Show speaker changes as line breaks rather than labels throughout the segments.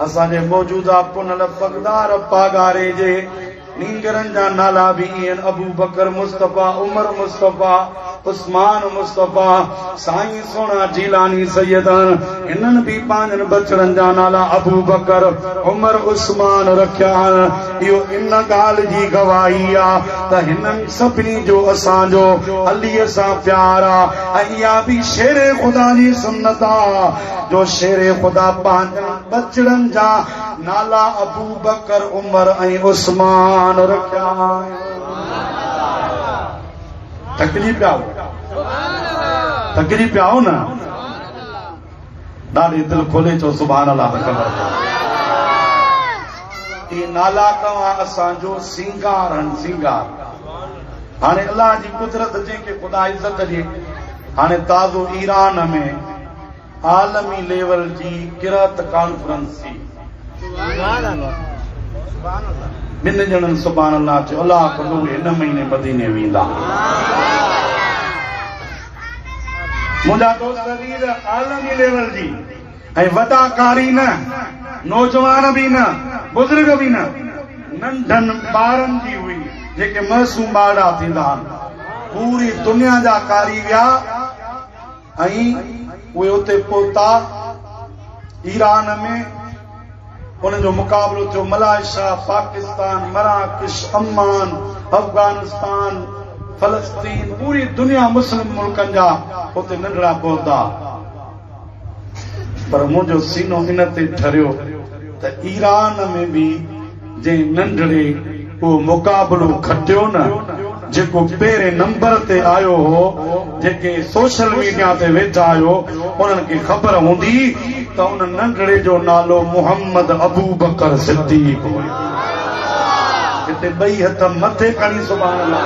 اسان جي موجوده پنهل پڳدار پاڳاري جي نينگرن جا نالا به ايئن ابوبڪر مصطفيٰ، عمر مصطفيٰ، عثمان مصطفيٰ، سائين سهڻا جيلاني سيدان هنن به پنهنجن ٻچڙن جا نالا ابوبڪر، عمر، عثمان رکيا آهن. اهو ان ڳالهه جي گواهي آ ته هنن سڀني جو اسان جو عليء سان پيار آ ۽ اها به شير خدا جي سنت آ. جو شير خدا پنهنجن ٻچڙن جا نالا ابوبڪر، عمر ۽ عثمان رکيا آهن. ٿڪجي پيا آهو؟ ٿڪجي پيا آهو نه؟ ڏاڍي دل کولي چئو سبحان الله ته خبر پئي. اهي نالا توهان اسان جو سينگار آهن، سينگار. هاڻي الله جي قدرت جنهن کي خدا عزت ڏي هاڻي تازو ايران ۾ عالمي ليول جي قرات ڪانفرنس ٿي. ٻن ڄڻن سبحان الله چيو الله اڪبر اهي هن مهيني مديني ويندا. منهنجا دوست عزيز عالمي ليول جي ۽ وڏا قاري نه نوجوان به نه بزرگ به نه ننڍن ٻارن جي هئي جيڪي معصوم ٻارڙا ٿيندا آهن پوري دنيا جا قاري ويا. ۽ اهي اتي پهتا، ايران ۾ انهن جو مقابلو ٿيو، ملائيشيا، پاڪستان، مراڪش، عمان، افغانستان، فلسطين، پوري دنيا مسلم ملڪن جا اتي ننڍڙا پهتا، پر منهنجو سينو ان تي ٺريو ته ايران ۾ به جنهن ننڍڙي اهو مقابلو کٽيو نه جيڪو پهرين نمبر تي آيو هو، جيڪي سوشل ميڊيا تي ويٺا آهيو انهن کي خبر هوندي ته ان ننڍڙي جو نالو محمد ابوبڪر صديق هيو. هتي ٻئي هٿ مٿي کڻي سبحان الله.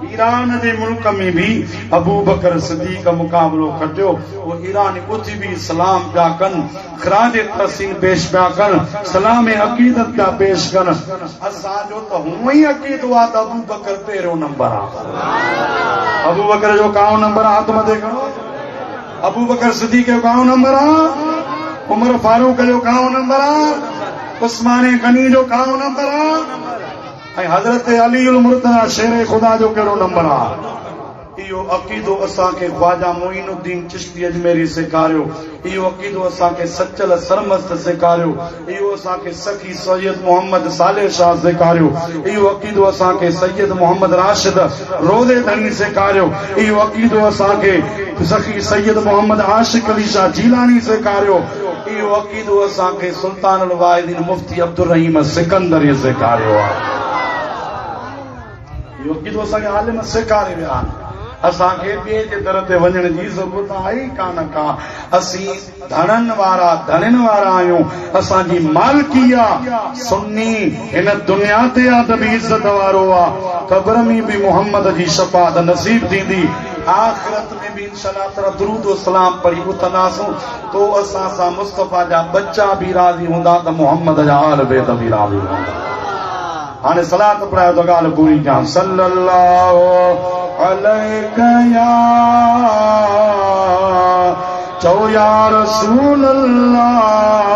ايران جي ملڪ ۾ به ابوبڪر صديق مقابلو کٽيو پوء ايراني ٻڌ به سلام پيا ڪن خراج تحسين پيش پيا ڪن سلام عقيدت پيا پيش ڪن اسان جو ته هونئن ئي عقيدو آ ته ابوبڪر پهريون نمبر آ ابوبڪر جو ڪاهون نمبر آ هٿ مٿي کڻو ابوبڪر صديق جو ڪاهون نمبر آ عمر فاروق جو ڪاهون نمبر آ عثمان غني جو ڪاهون نمبر آ ۽ حضرت علي المرتضيٰ شير خدا جو ڪهڙو نمبر آ؟ اهو عقيدو اسان کي خواجه معين الدين چشتي اجميري سيکاريو، اهو عقيدو اسان کي سچل سرمست سيکاريو، اهو اسان کي سخي سيد محمد صالح شاهه سيکاريو، اهو عقيدو اسان کي سيد محمد راشد روضي ڌڻي سيکاريو، اهو عقيدو اسان کي سخي سيد محمد عاشق علي شاهه جيلاني سيکاريو، اهو عقيدو اسان کي سلطان الواعظين مفتي سي عبدالرحيم سڪندر ئي سيکاريو آهي. اهو عقيدو اسان کي عالم سيکاري ويا آهن. اسان کي ٻئي جي در تي وڃڻ جي ضرورت آهي ئي ڪانه ڪا. اسين ڌڻن وارا، ڌڻين وارا آهيون. اسان جي مالڪي آ. سني هن دنيا تي آ ته به عزت وارو آ. قبر ۾ به محمد جي شفاعت نصيب ٿيندي. آخرت ۾ به انشاء الله تعاليٰ درود و سلام پڙهي اٿنداسون. تو اسان سان مصطفيٰ جا ٻچا به راضي هوندا ته محمد جا آل بيت به راضي هوندا. هاڻي صلات پڙهايو ته ڳالهه پوري ڪيان صلّي الله عليك يا چئو يا رسول الله.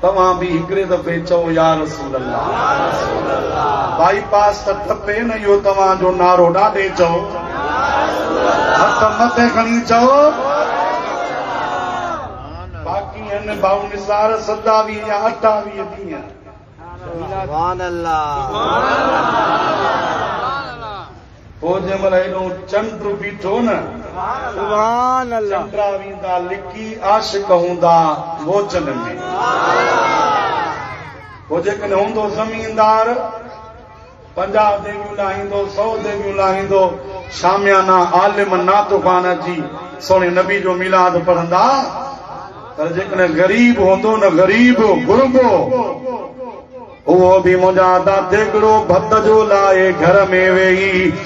توهان به هڪڙي دفعي چئو يا رسول الله. بائي پاس ته ٽپي نه اهو توهان جو نعرو ڏاڍي چئو. هٿ مٿي کڻي چئو. باقي هن ڀائو نثار سداوي جا اٺاويهه ڏينهن.
سبحان الله
پوء جنهن مهل هيڏو چنڊ بيٺو نه سبحان
الله چنڊا ويندا لڪي
عاشق هوندا موچن ۾، سبحان الله پوء جيڪڏهن هوندو زميندار پنجاهه ديڳيون لاهيندو، سؤ ديڳيون لاهيندو، شاميانا عالم نعتخوان اچي سهڻي نبي جو ميلاد پڙهندا، پر جيڪڏهن غريب هوندو نه غريب، غربو، اهو به منهنجا ادا ديڳڙو ڀت جو لاهي گهر ۾ ويهي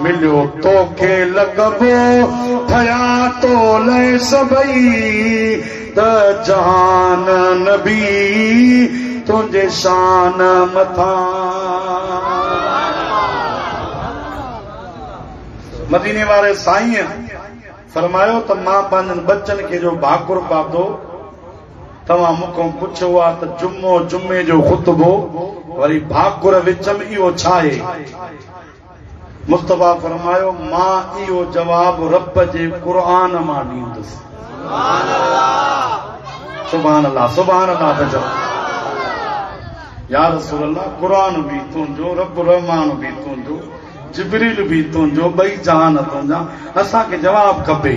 مليو توکي لقبو ٿيا تو لئه سڀئي ته جهان نبي تنهنجي شان مٿان. مديني واري سائين فرمايو ته مان پنهنجن ٻچن کي جو ڀاڪر پاتو توهان مونکون پڇيو آ ته جمعو جمعي جو خطبو وري ڀاڪر وچم اهو ڇا آهي؟ مصطفيٰ فرمايو، مان اهو جواب رب جي قرآن مان ڏيندس. سبحان الله سبحان الله پيا چون. يا رسول الله قرآن به تنهنجو رب الرحمان به تنهنجو جبريل به تنهنجو ٻئي جهان تنهنجا اسان کي جواب کپي.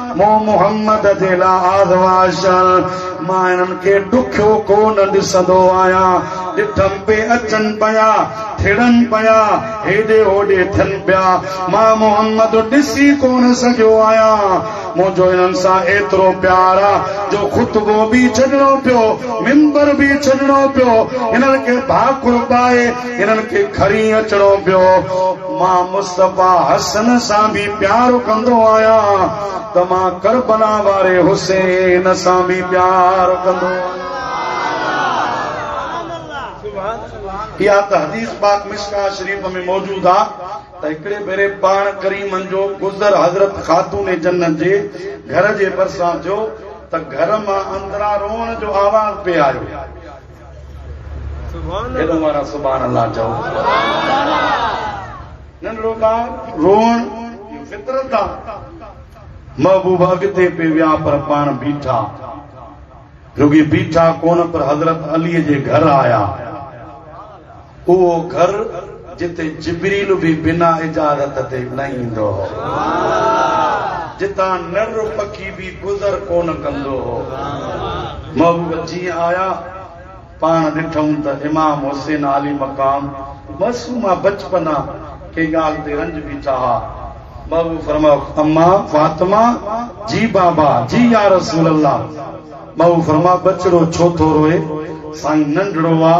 مون محمد جي لا آزمائشن مان انهن کي ڏکيو ڪو نه ڏسندو آهيان. ڏٺم پي اچن پيا، ٿڙن پيا، هيڏي هوڏي ٿين پيا. مان محمد ڏسي ڪونه سگهيو آهيان. منهنجو انهن سان ايترو پيار آ جو خطبو به ڇڏڻو پيو، منبر به ڇڏڻو پيو، انهن کي ڀاڪر پائي، هنن کي کري اچڻو پيو. مان مصطفيٰ حسن سان به پيار ڪندو آهيان ته مان ڪربلا واري حسين سان به پيار ڪندو آهيان. اها ته حديث پاڪ مصباح شريف ۾ موجود آهي ته هڪڙي ڀيري پاڻ ڪريمن جو گذر حضرت خاتون جنت جي گهر جي ڀرسان ٿيو ته گهر مان اندران روئڻ جو آواز پئي آيو. ڪيڏو مارا سبحان الله چئو. ننڍڙو ٻار روئڻ اهو فطرت آ. محبوب اڳتي پئي ويا پر پاڻ بيٺا. رڳي بيٺا ڪونه پر حضرت علي جي گهر آيا. اهو گهر جتي جبريل به بنا اجازت تي نه ايندو هو، جتان نر پکي به گذر ڪونه ڪندو هو. محبوب جيئن آيا، پاڻ ڏٺئون ته امام حسين عالي مقام معصومه بچپنا ڪنهن ڳالهه تي رنج بيٺا ها. محبوب فرمايو، اما فاطمه! جي بابا! جي يا رسول الله! محبوب فرمايو، ٻچڙو ڇو ٿو روئي؟ سائين ننڍڙو آ.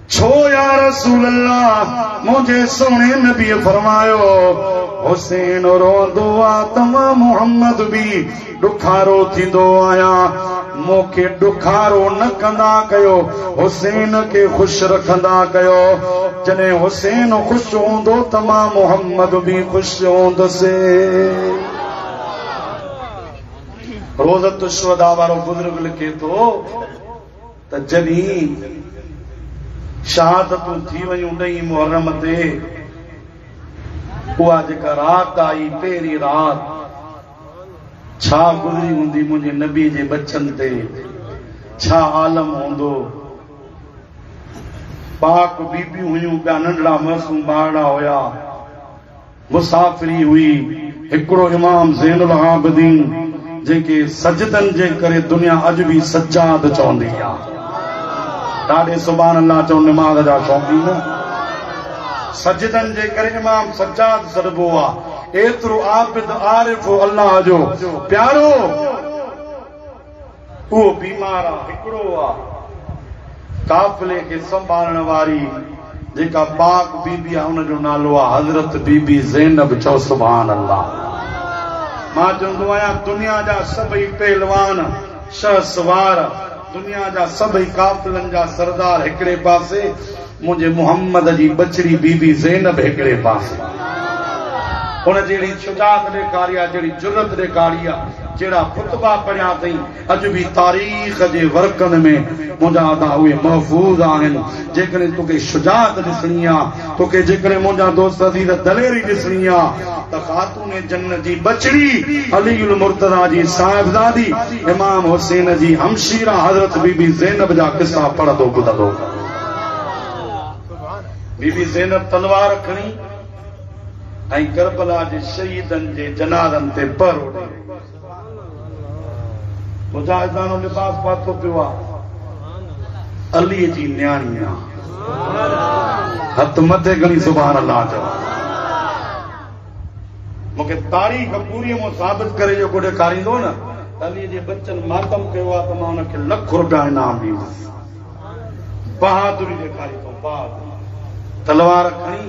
ڇو يا رسول الله منهنجي سهڻي نبيء فرمايو، حسين روئندو آ ته مان محمد به ڏکارو ٿيندو آهيان، مون کي ڏکارو نه ڪندا ڪيو، حسين کي خوش رکندا ڪيو، جڏهن حسين خوش هوندو ته مان محمد به خوش هوندس. روضة الشهداء وارو بزرگ لکي ٿو. ته جڏهين شهادتون ٿي ويون ڏهين محرم تي اها جيڪا رات آئي پهرين رات ڇا گذري هوندي منهنجي نبي جي ٻچن تي ڇا عالم هوندو پاڪ بيبيون هيون ٻيا ننڍڙا معصوم ٻارڙا هيا. مسافري هئي، هڪڙو امام زين العابدين جنهن کي سجدن جي ڪري دنيا اڄ به سجاد چوندي آ. ڏاڏي سبحان الله چئو نماز جا شوقين. سجدن جي ڪري امام سجاد سڏبو آ. ايترو عابد عارف الله جو پيارو. اهو بيمار آ هڪڙو آ قافلي کي سنڀالڻ واري جيڪا پاڪ بي بي آ ان جو نالو آ حضرت بي بي زينب چئو سبحان الله مان چوندو آهيان دنيا جا سڀئي پهلوان شهسوار دنيا جا سڀئي قافلن جا سردار هڪڙي پاسي منهنجي محمد جي ٻچڙي بي بي زينب هڪڙي پاسي ان جهڙي شجاعت ڏيکاري آ، جهڙي جرئت ڏيکاري آ، جهڙا خطبا پڙهيا اٿئين، اڄ به تاريخ جي ورقن ۾ منهنجا ادا اهي محفوظ آهن، جيڪڏهن توکي شجاعت ڏسڻي آ، توکي جيڪڏهن منهنجا دوست عزيز دليري ڏسڻي آ ته خاتون جنت جي ٻچڙي علي المرتضيٰ جي صاحبزادي امام حسين جي همشيره حضرت بي بي زينب جا قصا پڙهندو ٻڌندو. بي بي زينب تلوار کڻي ۽ ڪربلا جي شهيدن جي جنازن تي پهرو ڏئي رهي آهي. مجاهداڻو لباس پاتو پيو آهي. علي جي نياڻي آهي. هٿ مٿي کڻي سبحان الله چئو. مون کي تاريخ پوري مون ثابت ڪري جو ڪو ڏيکاريندو نه ته علي جي ٻچن ماتم ڪيو آهي ته مان ان کي لک روپيا انعام ڏيندس. بهادري ڏيکاري ٿو بعد تلوار کڻي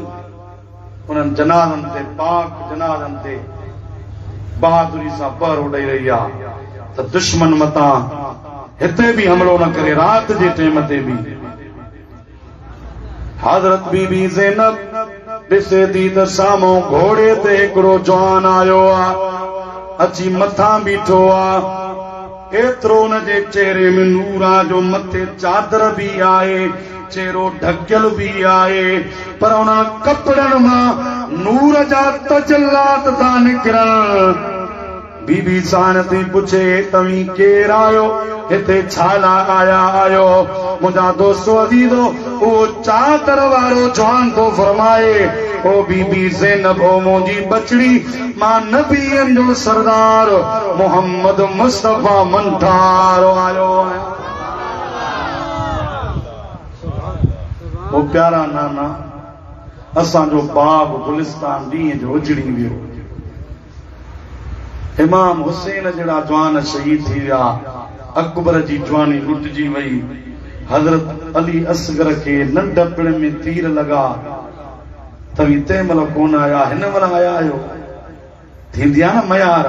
انهن جنازن تي پاڪ جنازن تي بهادري سان پهرو ڏئي رهي آ ته دشمن متان هتي به حملو نه ڪري رات جي ٽيم تي به حضرت بي بي زينب ڏسي ٿي ته سامهون گهوڙي تي هڪڙو جوان آيو آ اچي مٿان بيٺو آ. ايترو ان جي چهري ۾ نور آ جو مٿي چادر به آهي، چهرو ڍڪيل به آهي، پر انهن ڪپڙن مان نور جا تجلات ٿا نڪرن. بي بي ساڻ ٿي پڇي، توهين ڪير آهيو؟ هتي ڇا لاء آيا آهيو؟ منهنجا دوستو عزيزو! اهو چادر وارو جوان ٿو فرمائي، او بي بي زينب! او منهنجي ٻچڙي! مان نبين جو سردار محمد مصطفي منٺار آيو آهيان. او پيارا نانا اسان جو باغ گلستان ڏينهن جو اجڙي ويو. امام حسين جهڙا جوان شهيد ٿي ويا. اڪبر جي جواني لٽجي وئي. حضرت علي اصغر کي ننڍپڻ ۾ تير لڳا. توهين تنهن مهل ڪونه آيا، هن مهل آيا آهيو. ٿيندي آهي نه ميار،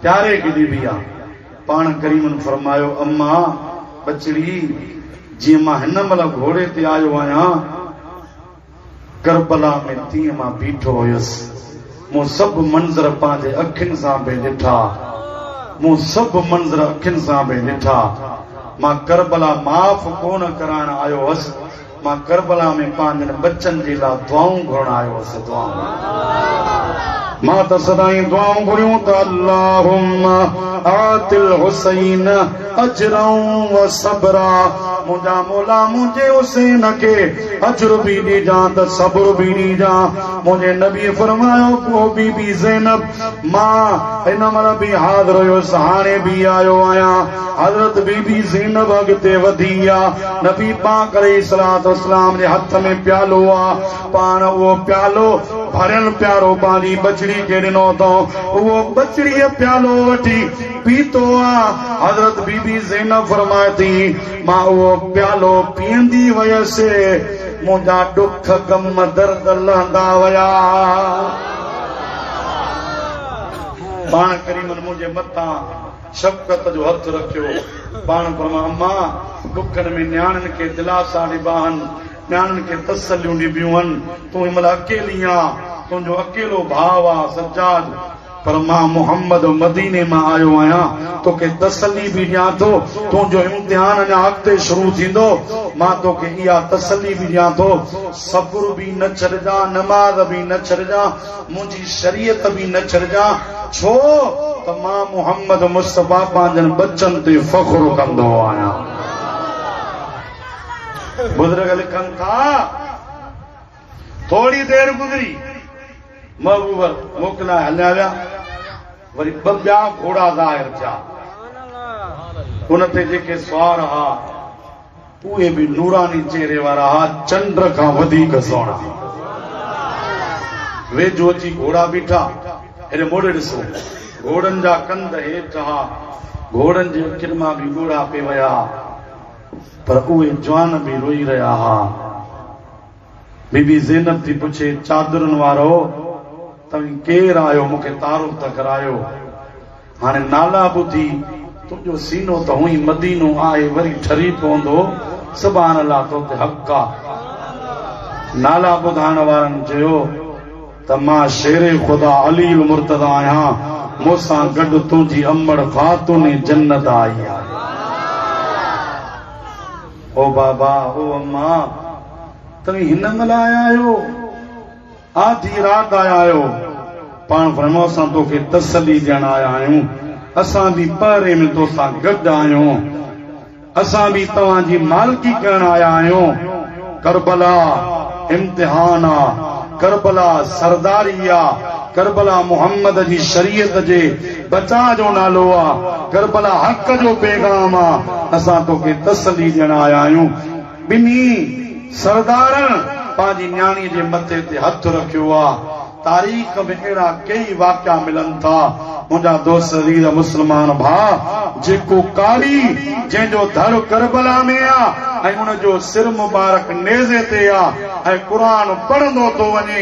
پياري کي ڏبي آ. پاڻ ڪريمن فرمايو، اما ٻچڙي، جيئن مان هن مهل گهوڙي تي آيو آهيان، ڪربلا ۾ تيئن مان بيٺو هيس. مون سڀ منظر پنهنجي اکين سان به ڏٺا. مون سڀ منظر اکين سان به ڏٺا. مان ڪربلا معاف ڪونه ڪرائڻ آيو هيس. مان ڪربلا ۾ پنهنجن ٻچن جي لا دعائون گهرڻ آيو هوس دعائون مان ته سدائين دعائون گهريون ته اللهم آت الحسين اجرا و صبرا منهنجا مولا منهنجي حسين کي اجر به ڏيجان ته صبر به ڏيجان منهنجي نبي فرمايو پوء بي بي زينب مان هن مهل به حاضر هيس هاڻي به آيو آهيان حضرت بي بي زينب اڳتي وڌي آ، نبي پاڪ عليه الصلوة والسلام جي هٿ ۾ پيالو آ، پاڻ اهو پيالو ڀريل پيارو پنهنجي ٻچڙي کي ڏنو اٿئون، اهو ٻچڙيء پيالو وٺي پيتو آ، حضرت بي بي زينب فرمائي ٿي، مان اهو پيالو پيئندي ويس، منهنجا ڏک، غم، درد لهندا ويا، پاڻ ڪريمن منهنجي مٿان. شفقت جو هٿ رکيو. پاڻ فرمان امان ڏکن ۾ نياڻين کي دلاسا ڏبا هن، نياڻين کي تسليون ڏبيون هن، تون هن مهل اڪيلي آن، تنهنجو اڪيلو ڀاء آ سجاد، پر مان محمد مديني مان آيو آهيان، توکي تسلي به ڏيان ٿو، تنهنجو امتحان اڃا اڳتي شروع ٿيندو، مان توکي اها تسلي به ڏيان ٿو، صبر به نه ڇڏجان، نماز به نه ڇڏجان، منهنجي شريعت به نه ڇڏجان، ڇو ته مان محمد مصطفيٰ پنهنجن ٻچن تي فخر ڪندو آهيان. بزرگ لکن ٿا، ٿوري دير گذري، محبوبر موڪ لاء هليا ويا، وري ٻه ٻيا گهوڙا ظاهر ٿيا، ان تي جيڪي سوار ها، اهي به نوراني چهري وارا ها چنڊ کان وڌيڪ سهڻا. ويجهو اچي گهوڙا بيٺا. هيڏي موڙي ڏسو. گهوڙن جا ڪنڌ هيٺ ها. گهوڙن جي اکين مان به ڳوڙها پئي وهيا ها. پر اهي جوان به روئي رهيا ها. بي بي زينب ٿي پڇي، چادرن وارؤ! توهين ڪير آهيو؟ مون کي تعارف ته ڪرايو. هاڻي نالا ٻڌي تنهنجو سينو ته هونئن مدينو آهي وري ٺري پوندو سبحان الله تو تي حق آ نالا ٻڌائڻ وارن چيو ته مان شير خدا علي المرتضيٰ آهيان مون سان گڏ تنهنجي امڙ خاتون جنت آئي آهي او بابا او امان توهين هن مهل آيا آهيو. آڌي رات آيا آهيو، پاڻ فرماء اسان توکي تسلي ڏيڻ آيا آهيون، اسان به پهري ۾ تو سان گڏ آهيون، اسان به توهان جي مالڪي ڪرڻ آيا آهيون، ڪربلا امتحان آ، ڪربلا سرداري آ، ڪربلا محمد جي شريعت جي بچاء جو نالو آ، ڪربلا حق جو پيغام آ، اسان توکي تسلي ڏيڻ آيا آهيون. ٻنهي سردارن پنهنجي نياڻيء جي مٿي تي هٿ رکيو آ. تاريخ ۾ اهڙا ڪيئي واقعا ملن ٿا. منهنجا دوست عزيز مسلمان ڀاء! جيڪو قاري جنهن جو ڌڙ ڪربلا ۾ آ ۽ ان جو سر مبارڪ نيزي تي آ ۽ قرآن پڙهندو ٿو وڃي،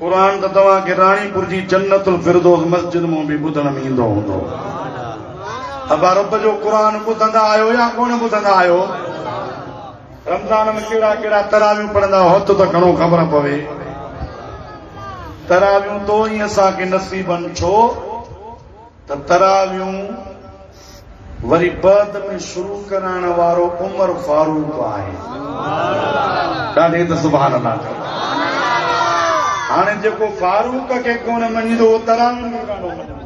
قرآن ته توهان کي راڻي پور جي جنت الفردوس مسجد مون به ٻڌڻ ۾ ايندو هوندو. ابا رب جو قرآن ٻڌندا آهيو يا ڪونه ٻڌندا آهيو؟ رمضان ۾ ڪهڙا ڪهڙا تراويون پڙهندا هوت ته گهڻو خبر پوي. تراويون تو ئي اسان کي نصيبن ڇو؟ ته تراويون وري بعد ۾ شروع ڪرائڻ وارو عمر فاروق آهي. ڏاڍي ته سبحان الله چئو. هاڻي جيڪو فاروق کي ڪونه مڃيندو اهو تراوين کي ڪانو مڃيندو.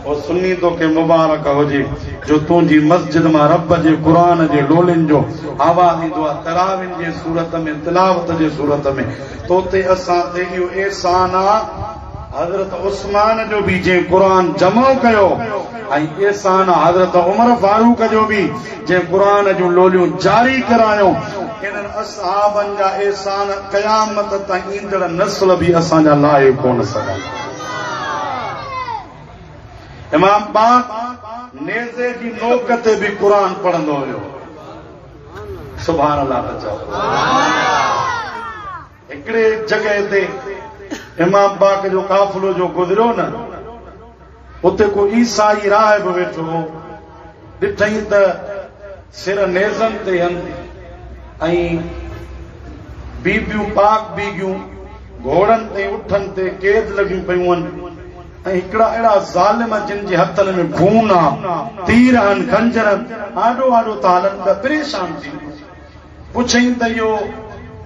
او سني توکي مبارڪ هجي جو تنهنجي مسجد مان رب جي قرآن جي ڏولين جو آواز ايندو آهي تراوين جي صورت ۾ تلاوت جي صورت ۾ توتي اسان تي اهو احسان آهي حضرت عثمان جو به جنهن قرآن جمع ڪيو ۽ احسان حضرت عمر فاروق جو به جنهن قرآن جون لوليون جاري ڪرايون، انهن اصحابن جا احسان قيامت تائين ايندڙ نسل به اسان جا لاهي ڪونه سگهندا. امام پاڪ نيزي جي نوڪ تي به قرآن پڙهندو هيو. سبحان الله ته چئو. هڪڙي جڳهه تي امام پاڪ جو قافلو جو گذريو نه اتي ڪو عيسائي راهب ويٺو هو، ڏٺئين ته سر نيزن تي هن ۽ بيبيون پاڪ بيگهيون گهوڙن تي اٺن تي قيد لڳيون پيون هن ۽ هڪڙا اهڙا ظالم جن جي هٿن ۾ خون آ، تير آهن، خنجر آهن، آڏو آڏو ٿا هلن ته پريشان ٿي ويو. پڇيائين ته اهو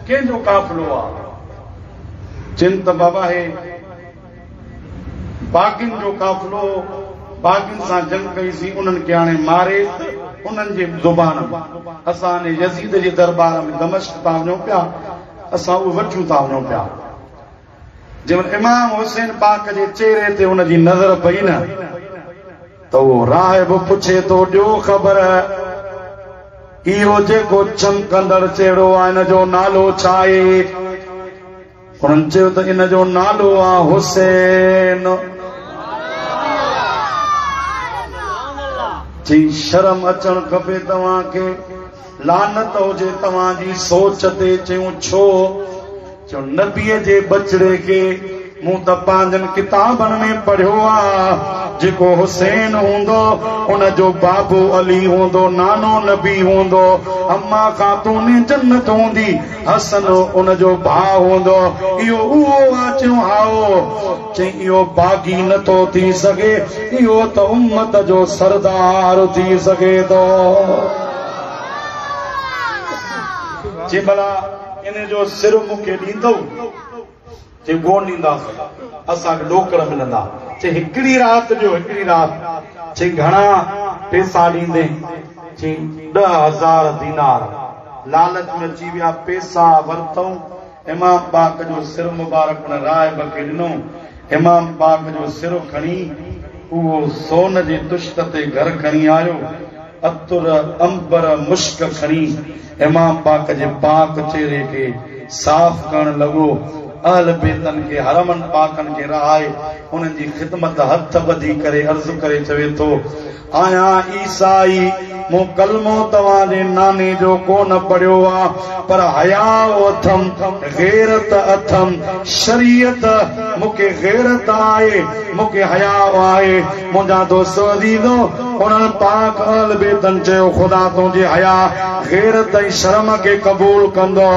ڪنهن جو قافلو آ؟ چين ته بابا هي باغين جو قافلو هو، باغين سان جنگ ڪئي سين، انهن کي آڻي ماري ته انهن جي زبان ۾ اسان انهي يزيد جي درٻار ۾ دمشق تان وڃون پيا، اسان اهو وٺيون تان وڃون پيا. جنهن امام حسين پاڪ جي چهري تي ان جي نظر پئي نه ته اهو راهب پڇي ٿو ڏيو خبر اهو جيڪو چمڪندڙ چهرو آهي ان جو نالو ڇا آهي؟ انهن چيو ته ان جو نالو آهي حسين. چين شرم اچڻ کپي توهان کي. لعنت هجي توهان جي سوچ تي چيون ڇو؟ چيو، نبيء جي ٻچڙي کي مون ته پنهنجن ڪتابن ۾ پڙهيو آ، جيڪو حسين هوندو، ان جو بابو علي هوندو، نانو نبي هوندو، اما خاتون جنت هوندي، حسن ان جو ڀاء هوندو، اهو اهو آ؟ چيو، هائو. چيائين، اهو باغي نه ٿو ٿي سگهي، اهو ته امت جو سردار ٿي سگهي ٿو. چيائين، ڀلا! انهيء جو سر مون کي ڏيندؤ؟ چي، ڪونه ڏينداس، اسان کي نوڪر ملندا. چي، هڪڙي رات ڏيو، هڪڙي رات. چي، گهڻا پئسا ڏيندين؟ چي، ڏهه هزار دينار. لالچ ۾ اچي ويا، پئسا ورتائون. امام پاڪ جو سر مبارڪ ان راهب کي ڏنو. امام پاڪ جو سر کڻي اهو سون جي طشت تي گهر کڻي آيو. عطر، عنبر، مشڪ کڻي امام پاڪ جي پاڪ چهري کي صاف ڪرڻ لڳو. اهل بيتن کي حرمن پاڪن کي رهائي انهن جي خدمت هٿ ٻڌي ڪري عرض ڪري چوي ٿو، آهيان عيسائي، مون ڪلمو توهان جي ناني جو ڪو نه پڙهيو آ، پر حياء اٿم، غيرت اٿم، شريعت، مون کي غيرت آهي، مون کي حياء آهي. منهنجا دوست عزيزو! انهن پاڪ اهل بيتن چيو، خدا تنهنجي حياء، غيرت ۽ شرم کي قبول ڪندو.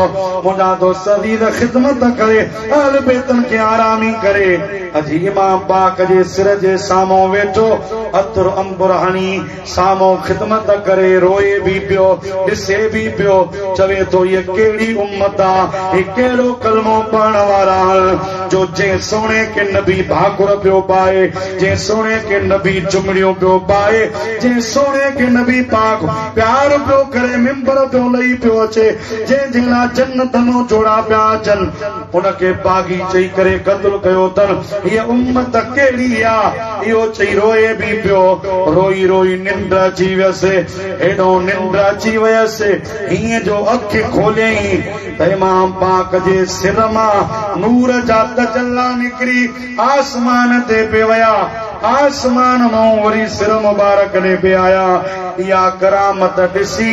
منهنجا دوست عزيز! خدمت ڪري، اهل بيتن کي آرامي ڪري. اچي امام پاڪ جي سر جي سامهون ويٺو، عطر عنبر هڻي، سامهون خدمت ڪري روئي به پيو، ڏسي به پيو، چوي ٿو هيء ڪهڙي امت آ، هي ڪهڙو ڪلمو پڙهڻ وارا آهن، جو جنهن سهڻي کي نبي ڀاڪر پيو پائي، جنهن سهڻي کي نبي چمڙيون پيو پائي، جنهن سهڻي کي نبي پاڪ پيار پيو ڪري، منبر پيو لهي پيو اچي، جنهن جي لاء جنتن جوڙا پيا اچن. ان کي باغي چئي ڪري قتل ڪيو اٿن. هيء امت ڪهڙي آ؟ اهو چئي روئي به پيو. روئي روئي ننڊ اچي ويس. هيڏو ننڊ اچي ويس هيئن جو اک کوليائين ته امام پاڪ جي سر مان نور جا تجلا نڪري آسمان تي پئي ويا. آسمان مئون وري سر مبارڪ ڏي پئي آيا. اها ڪرامت ڏسي.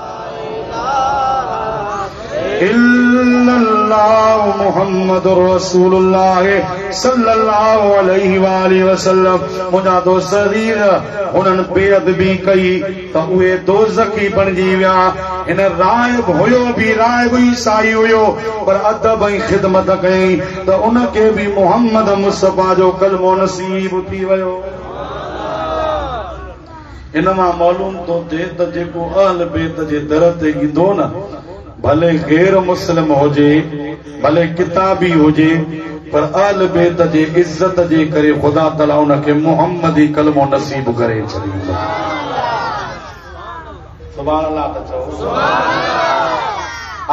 الا الله محمد رسول الله صلي الله عليه واله وسلم منهنجا دوست عزيز هنن بي ادبي ڪئي ته اهي دوزخي بڻجي ويا هن راهب هيو به راهب عيسائي هيو پر ادب ۽ خدمت ڪيائين ته ان کي به محمد مصطفي جو ڪلمو نصيب ٿي ويو ان مان معلوم ٿو ٿئي ته جيڪو اهل بيت جي در تي ايندو نه ڀلي غير مسلم هجي ڀلي ڪتابي هجي پر اهل بيت جي عزت جي ڪري خدا تعالي ان کي محمدي ڪلمو نصيب ڪري ڇڏيندو. سبحان الله ته چئو. سبحان الله.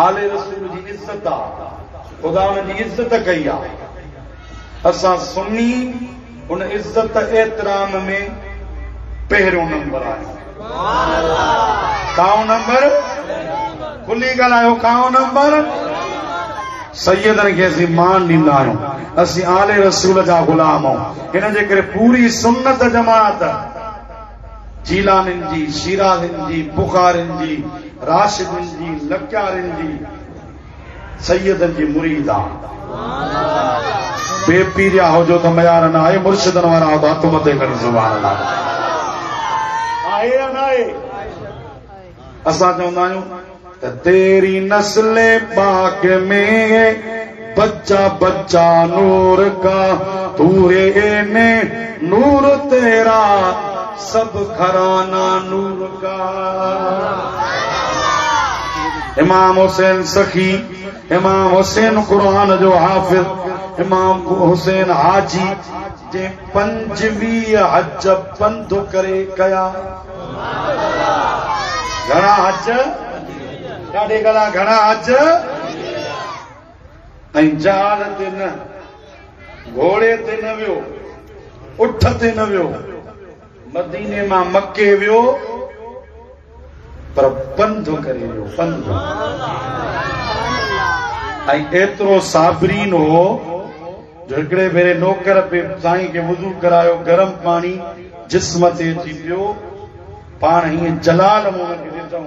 آل رسول جي عزت آ. خدا انهن جي عزت ڪئي آ. اسان سني هن عزت احترام ۾ پهريون نمبر آهي. ڪائون نمبر کلي ڳالهايو ڪائون نمبر سيدن کي اسين مان ڏيندا آهيون اسين آل رسول جا غلام آهيون ان جي ڪري پوري سنت جماعت جيلانين جي شيرازين جي بخارين جي راشدين جي لڪيارين جي سيدن جي مريد آ بي پيريا هو جو ته ميار نه آهي مرشدن وارا هو ته هٿ مٿي ڪري سبحان الله آهي يا نه آهي اسان چوندا آهيون ته تيري نسل پاڪ ۾ بچا بچا نور کا توري نور تيرا سڀ گهرانا نور ڪا. امام حسين سخي، امام حسين قرآن جو حافظ، امام حسين حاجي جنهن پنجويهه حج پنڌ ڪري ڪيا. گهڻا حج؟ ڏاڍي گلا گهڻا حج؟ ۽ جهاز تي نه، گهوڙي تي نه ويو، اٺ تي نه ويو، مديني مان مڪي ويو پر پنڌ ڪري ويو، پنڌ. ۽ ايترو صابرين هو جو هڪڙي ڀيري نوڪر پي سائين کي وضو ڪرايو، گرم پاڻي جسم تي اچي پيو، پاڻ هيئن جلال مون کي ڏٺئون.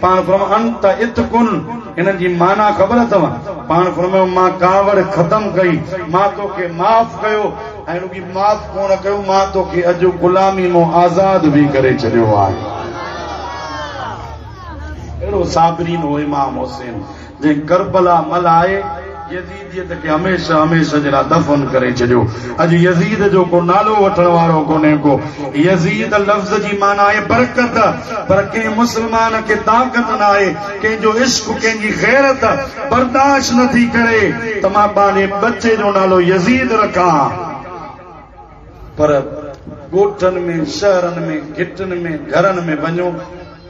پاڻ فرمايو انت اتقن هنن جي معنيٰ خبر اٿئو؟ پاڻ فرمايو مان ڪاوڙ ختم ڪئي، مان توکي معاف ڪيو ۽ رڳي معاف ڪونه ڪيو مان توکي اڄ غلامي مون آزاد به ڪري ڇڏيو آهي. اهڙو صابرين هو امام حسين. جنهن ڪربلا ملهائي يزيديت کي هميشه هميشه جي لاء دفن ڪري ڇڏيو. اڄ يزيد جو ڪو نالو وٺڻ وارو ڪونهي ڪو. يزيد لفظ جي معنيٰ آهي برڪت، پر ڪنهن مسلمان کي طاقت نه آهي، ڪنهن جو عشق، ڪنهن جي غيرت برداشت نه ٿي ڪري ته مان پنهنجي ٻچي جو نالو يزيد رکان. پر ڳوٺن ۾، شهرن ۾، گهٽن ۾، گهرن ۾ وڃو،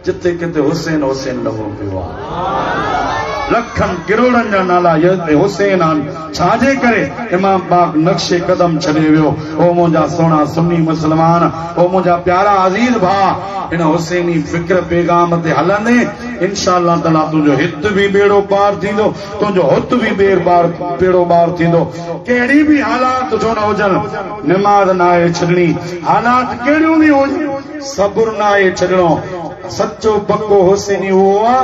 جتي ڪٿي حسين حسين لڳو پيو آهي. لکن ڪروڙن جا نالا يزد حسين آهن، ڇا جي ڪري امام پاڪ نقش قدم ڇڏي ويو. او منهنجا سهڻا سني مسلمان، او منهنجا پيارا عزيز ڀاء، هن حسيني فڪر پيغام تي هلندين، انشاء الله تعاليٰ تنهنجو هت به ٻيڙو پار ٿيندو. تنهنجو هت به ٻير ٻار پيڙو ٻار ٿيندو. ڪهڙي به حالات ڇو نه هجن، نماز ناهي ڇڏڻي. حالات ڪهڙيون به هجن، صبر ناهي ڇڏڻو. سچو پڪو حسيني اهو آ،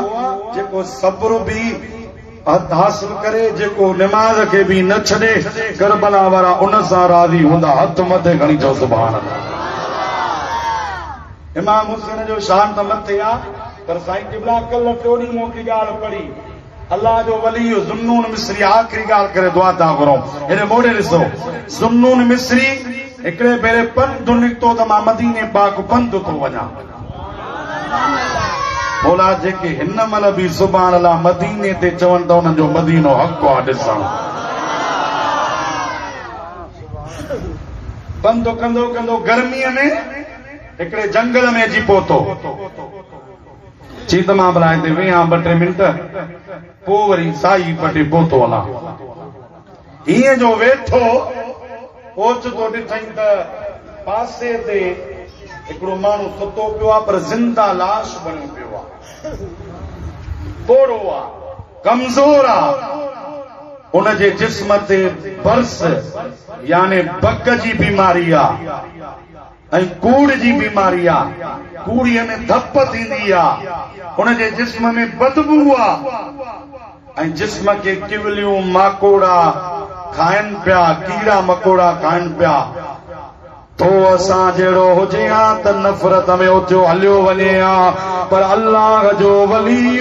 جيڪو صبر به حاصل ڪري، جيڪو نماز کي به نه ڇڏي. ڪربلا وارا ان سان راضي هوندا. هٿ مٿي کڻي چئو سبحان الله. امام حسين جو شان ته مٿي آ، پر سائين قبلا ڪلهه ٽيون ڏينهن مون هڪڙي ڳالهه پڙهي. الله جو ولي ذوالنون مصري آخري ڳالهه ڪري دعا تان گهرئون. هيڏي موڙي ڏسو. ذوالنون مصري هڪڙي ڀيري پنڌ نڪتو ته مان مديني پاڪ پنڌ ٿو وڃان. مولا جيڪي هن مهل به سبحان الله مديني تي چون ته انهن جو مدينو حق آ ڏسڻ. پنڌ ڪندو ڪندو گرميء ۾ هڪڙي جنگل ۾ اچي پهتو. چيت مان به لائندي ويئي ها ٻه ٽي منٽ، پوء وري سائي پٽي پوتو هلان. هينئن جو ويٺو اوچتو ڏٺئين ته پاسي تي هڪڙو ماڻهو ستو پيو آ، پر زنده لاش بڻيو پيو آ. پوڙهو آ، ڪمزور آ. ان جي جسم تي برس يعني بڪ جي بيماري آ. ۽ ڪوڙهه جي بيماري آ، ڪوڙهيء ۾ ڌپ ٿيندي آ، ان جي جسم ۾ بدبوء آ ۽ جسم کي ڪوليون، ماڪوڙا، کائن پيا، ڪيڙا مڪوڙا کائن پيا. تو اسان جهڙو هجين ها ته نفرت ۾ اٿيو هليو وڃين ها، پر الله جو ولي.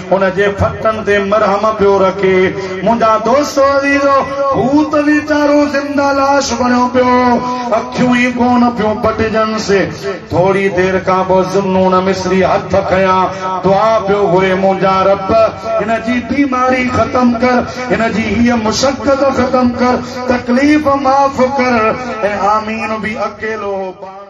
ان جي ڦٽن تي مرهم پيو رکي. منهنجا دوستو عزيزو! هو ته ويچارو زنده لاش بڻيو پيو هو. اکيون ئي ڪونه پيون پٽجنس. ٿوري دير کان پوء ذوالنون مصري هٿ کنيان دعا پيو گهري، منهنجا رب! هن جي بيماري ختم ڪر. هن جي هيء مشقت ختم ڪر. تڪليف معاف ڪر. ۽ آمين به اڪيلو هو پاڻ.